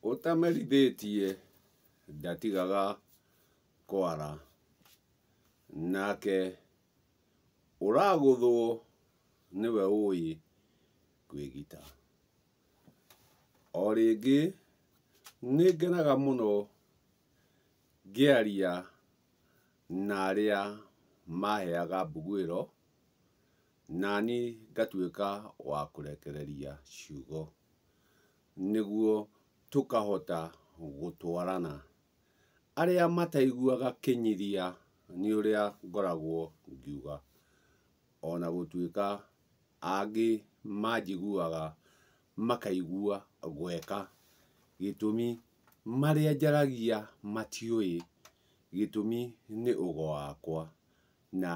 ũtamerithĩtie ndatigaga kwara nake ũragũthwo nĩwe ũĩ kwĩgita. O rĩngĩ nĩ ngenaga mũno ngĩaria na arĩa maheaga mbuguĩro. Nani ngatuĩka wa kũrekereria ciugo nĩguo tũkahota gũtwarana. Arĩa mataiguaga kĩnyiria nĩ ũrĩa ngoragwo ngiuga, o na gũtuĩka angĩ manjiguaga makaigua gweka, gĩtũmi marĩa njaragia matiũĩ, gĩtũmi nĩ ũgo wakwa. Na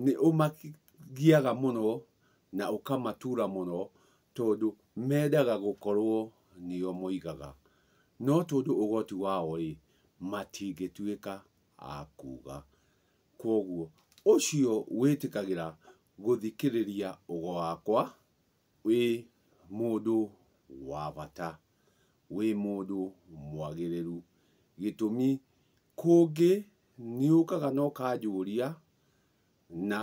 nĩũmagiaga mũno na ũkamatura mũno tondũ mendaga gũkorwo nĩo moigaga. No tondũ ũgoti wao-rĩ, matingĩtuĩka a kuuga. Kwoguo ũcio wĩtĩkagĩra gũthikĩrĩria ugo wakwa wĩ mũndũ wa bata, wĩ mũndũ mwagĩrĩru. Gĩtũmi Kũngĩ nĩũkaga na ũkanjũria na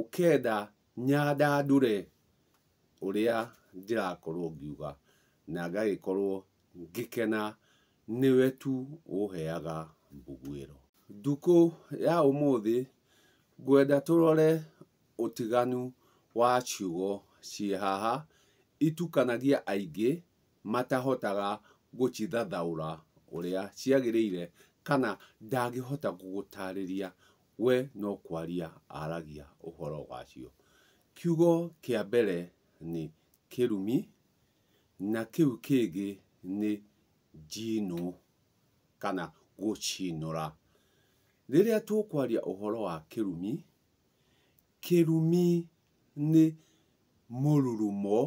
ũkenda nyandandũre ũrĩa ndĩrakorwo ngiuga na ngagĩkorwo ngĩkena nĩwe tu ũheaga mbugwĩro. Ndukũ ya ũmũthĩ ngwenda tũrore ũtiganu wa ciugo ciĩ haha itukanagia aingĩ matahotaga gũcithathaũra ũrĩa ciagĩrĩire kana ndangĩhota gũgũtaarĩria, we no kwaria aragia ũhoro wacio. Kiugo kĩa mbere nĩ kĩrumi, na kĩu kĩngĩ nĩ njinũ kana gũcinũra. Rĩrĩa tũkwaria ũhoro wa kĩrumi, kĩrumi nĩ mũrurumo,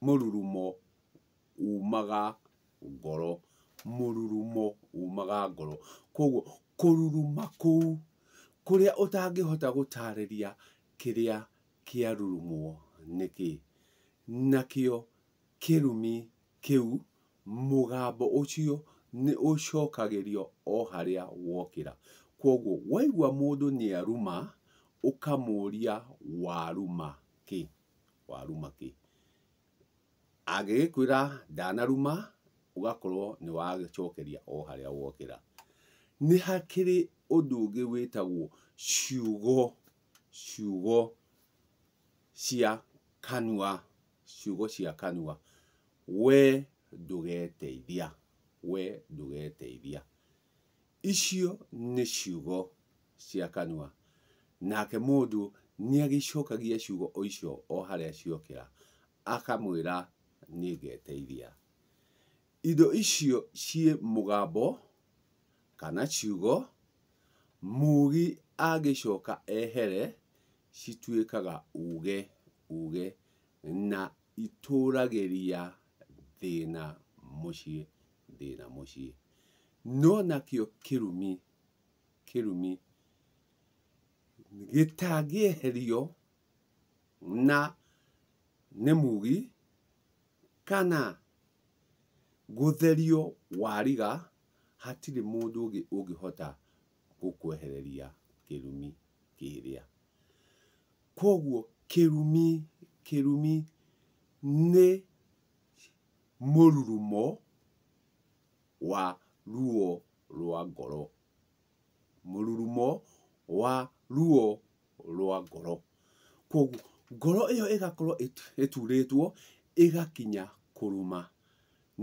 mũrurumo umaga ngoro, mũrurumo umaga ngoro. Koguo kũruruma kũu kũrĩa ũtangĩhota gũtarĩria kĩrĩa kĩarurumwo nĩkĩ, nakĩo kĩrumi kĩu, mũgambo ũcio nĩ ũcokagĩrio o harĩa wokĩra. Kwoguo, waigua mũndũ nĩ aruma, ũkamũria waruma kĩ? Waruma kĩ? Angĩgĩkwĩra ndanaruma, ũgakorwo nĩ wacokeria o harĩa wokĩra. Nĩ hakĩrĩ ũndũ ũngĩ wĩtagwo ciugo, ciugo cia kanua. ciugo cia kanua, wee ndũgeteithia, wee ndũgeteithia. Icio nĩ ciugo cia kanua. Nake mũndũ nĩagĩcokagia ciugo o icio o harĩa ciokĩra, akamwĩra nĩngeteithia. Indo icio ciĩ mũgambo kana ciugo, mugi angĩcoka ehere, cituĩkaga uge uuge na itũũragĩria thĩna mũciĩ thĩna mũciĩ. No nakĩo kĩrumi kĩrumi gĩtangĩeherio na nĩ mugi kana gũtherio wariga hatirĩ mũndũ ũngĩ ũngĩhota gũkwehereria kĩrumi kĩrĩa. Kwoguo kĩrumi, kĩrumi nĩ mũrurumo wa ruo rwa ngoro. Mũrurumo wa ruo rwa ngoro. Kwoguo ngoro ĩyo ĩgakorwo ĩturĩtwo ĩgakinya kũrũma.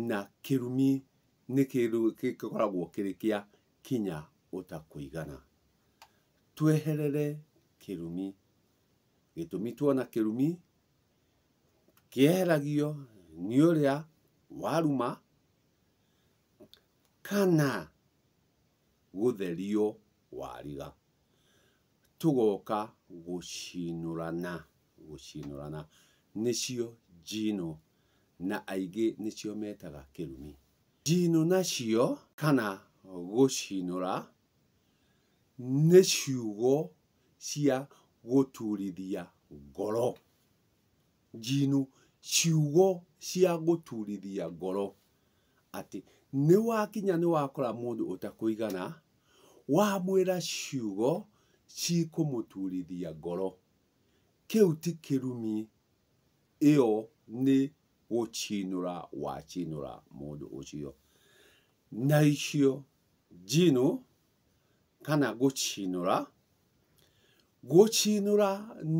Na kĩrumi nĩ kĩndũ gĩkoragwo kĩrĩ kĩa kinya ũtakũigana. tweherere kĩrumi. Gĩtũmi tuona kĩrumi, kĩeheragio nĩ ũrĩa waruma kana gũtherio wariga. Tũgoka gũcinũrana, gũcinũrana nĩcio njino na aingĩ nĩcio metaga kĩrumi. Njino nacio kana gũcinũra nĩ ciugo cia gũturithia ngoro. Njino, ciugo cia gũturithia ngoro. Atĩ nĩ wakinya nĩ wakora mũndũ ũtakũigana, wamwĩra ciugo cikũmũturithia ngoro. Kĩu ti kĩrumi, ĩyo nĩ gũcinũra wacinũra mũndũ ũcio. Na icio njino kana gũcinũra, gũcinũra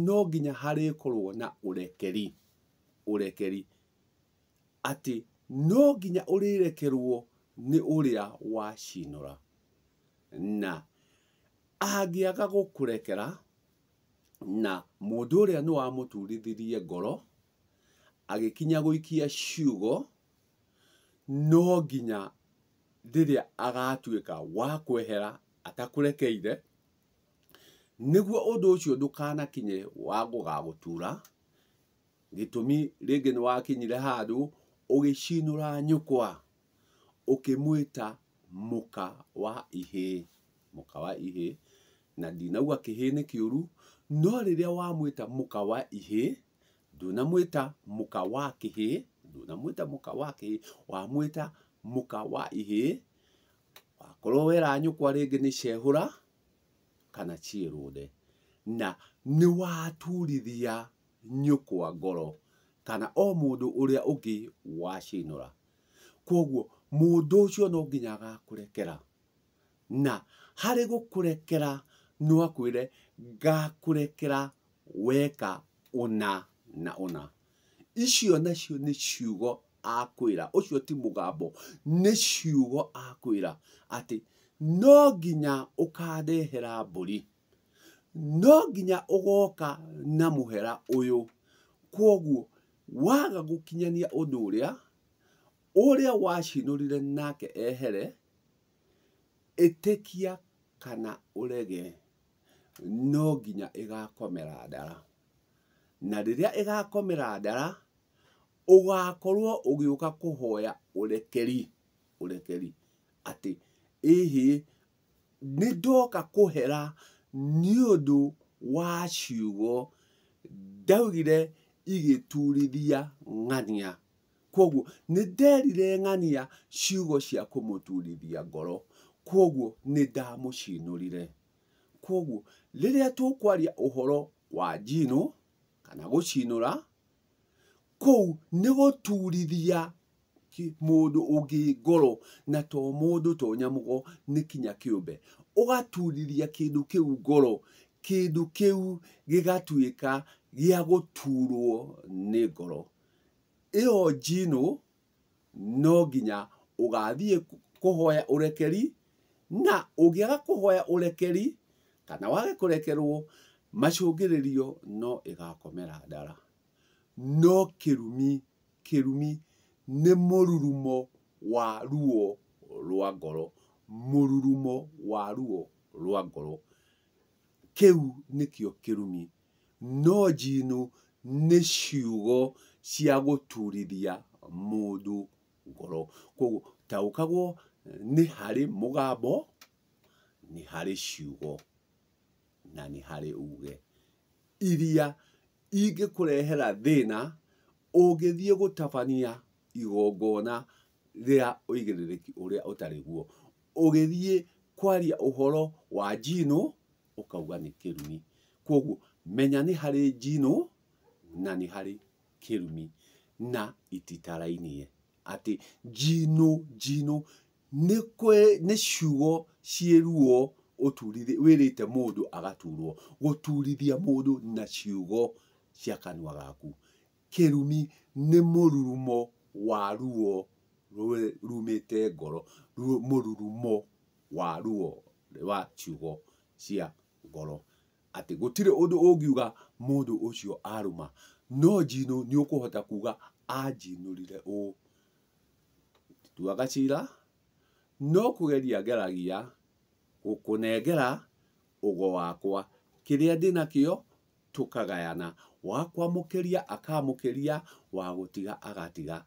no nginya harĩkorwo na ũrekeri, ũrekeri, atĩ no nginya ũrĩrekerwo nĩ ũrĩa wacinũra, na angĩaga gũkũrekera, na mũndũ ũrĩa nĩ wamũturithirie ngoro, agĩkinya gũikia ciugo, no nginya rĩrĩa agatuĩka wa kwehera atakũrekeire, nĩguo ũndũ ũcio ndũkanakinye wa gũgagũtura, gĩtũmi rĩngĩ nĩ wakinyire handũ ũgĩcinũra nyũkwa, ũkĩmwĩta mũka wa ihĩ, mũka wa ihĩ, na ndinaigua kĩhĩ nĩ kĩũru, no rĩrĩa wamwĩta mũka wa ihĩ, ndũnamwĩta mũka wa kĩhĩ ndũnamwĩta mũka wa kĩhĩ wamwĩta mũka wa ihĩ wakorwo wera nyũkwa rĩngĩ nĩ cehũra kana ciĩrũnde na nĩ waturithia nyũkwa ngoro kana o mũndũ ũrĩa ũngĩ wacinũra kwoguo mũndũ ũcio no nginya agakũrekera na harĩ gũkũrekera no akwĩre ngakũrekera weka ũna na ũna. Icio nacio nĩ ciugo akwĩra, ũcio ti mũgambo, nĩ ciugo akwĩra atĩ no nginya ũkandehera mbũri, no nginya ũgoka na mũhera ũyũ. Kwoguo waga gũkinyania ũndũ ũrĩa, ũrĩa wacinũrire nake ehere, ĩtĩkia kana ũrege. no nginya ĩgakomera ndara. Na rĩrĩa ĩgakomera ndara, ũgakorwo ũgĩũka kũhoya ũrekeri, ũrekeri. Atĩ ĩ hĩ, nĩ ndoka kũhera nĩ ũndũ wa ciugo ndaugire igĩtuurithia ng'ania. Kwoguo nĩ nderire ng'ania ciugo cia kũmũturithia ngoro. Kwoguo nĩ ndamũcinũrire. Kwoguo rĩrĩa tũkwaria ũhoro wa njino, kana gũcinũra, kũu nĩ gũturithia mũndũ ũngĩ ngoro, na to mũndũ to nyamũ, nĩ kinya kĩũmbe. Ũgaturithia kĩndũ kĩu ngoro, kĩndũ kĩu gĩgatuĩka gĩa gũturwo nĩ ngoro. ĩyo njino no nginya ũgathiĩ kũhoya ũrekeri, na ũngĩaga kũhoya ũrekeri, kana wage kũrekerwo, macũngĩrĩrio no ĩgakomera ndara. No kĩrumi, kĩrumi nĩ mũrurumo wa ruo rwa ngoro, mũrurumo wa ruo rwa ngoro. Kĩu nĩkĩo kĩrumi. No Jinnu nĩ ciugo cia gũturithia mũndũ ngoro. Kwoguo taũkagwo nĩ harĩ mũgambo, nĩ harĩ ciugo, na nĩ harĩ uge iria ingĩkũrehera thĩna ũngĩthiĩ gũtabania igongona rĩa ũigĩrĩrĩki ũrĩa ũtarĩ guo. ũgĩthiĩ kwaria ũhoro wa njino, ũkauga nĩ kĩrumi. Kwoguo menya nĩ harĩ njino na nĩ harĩ kĩrumi na ititarainie. Atĩ njino, njino nĩ kwĩ, nĩ ciugo ciĩ ruo ũturithĩtie, wĩrĩte mũndũ agaturwo. Gũturithia mũndũ na ciugo cia kanua gaku. kĩrumi nĩ mũrurumo wa ruo rumĩte ngoro, mũrurumo wa ruo wa ciugo cia ngoro. Atĩ gũtirĩ ũndũ ũngiuga mũndũ ũcio arũma, no njinũ nĩ ũkũhota kuga anjinũrire ũũ. Ndituaga cira, no kũgeria ngeragia gũkũnengera ũgo wakwa, kĩrĩa ndĩ nakĩo tũkagayana, wa kwamũkĩria akamũkĩria, wa gũtiga agatiga,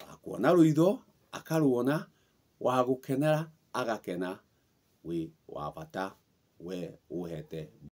wa kuona rũitho akaruona, wa gũkenera agakena, wĩ wa bata we ũhete.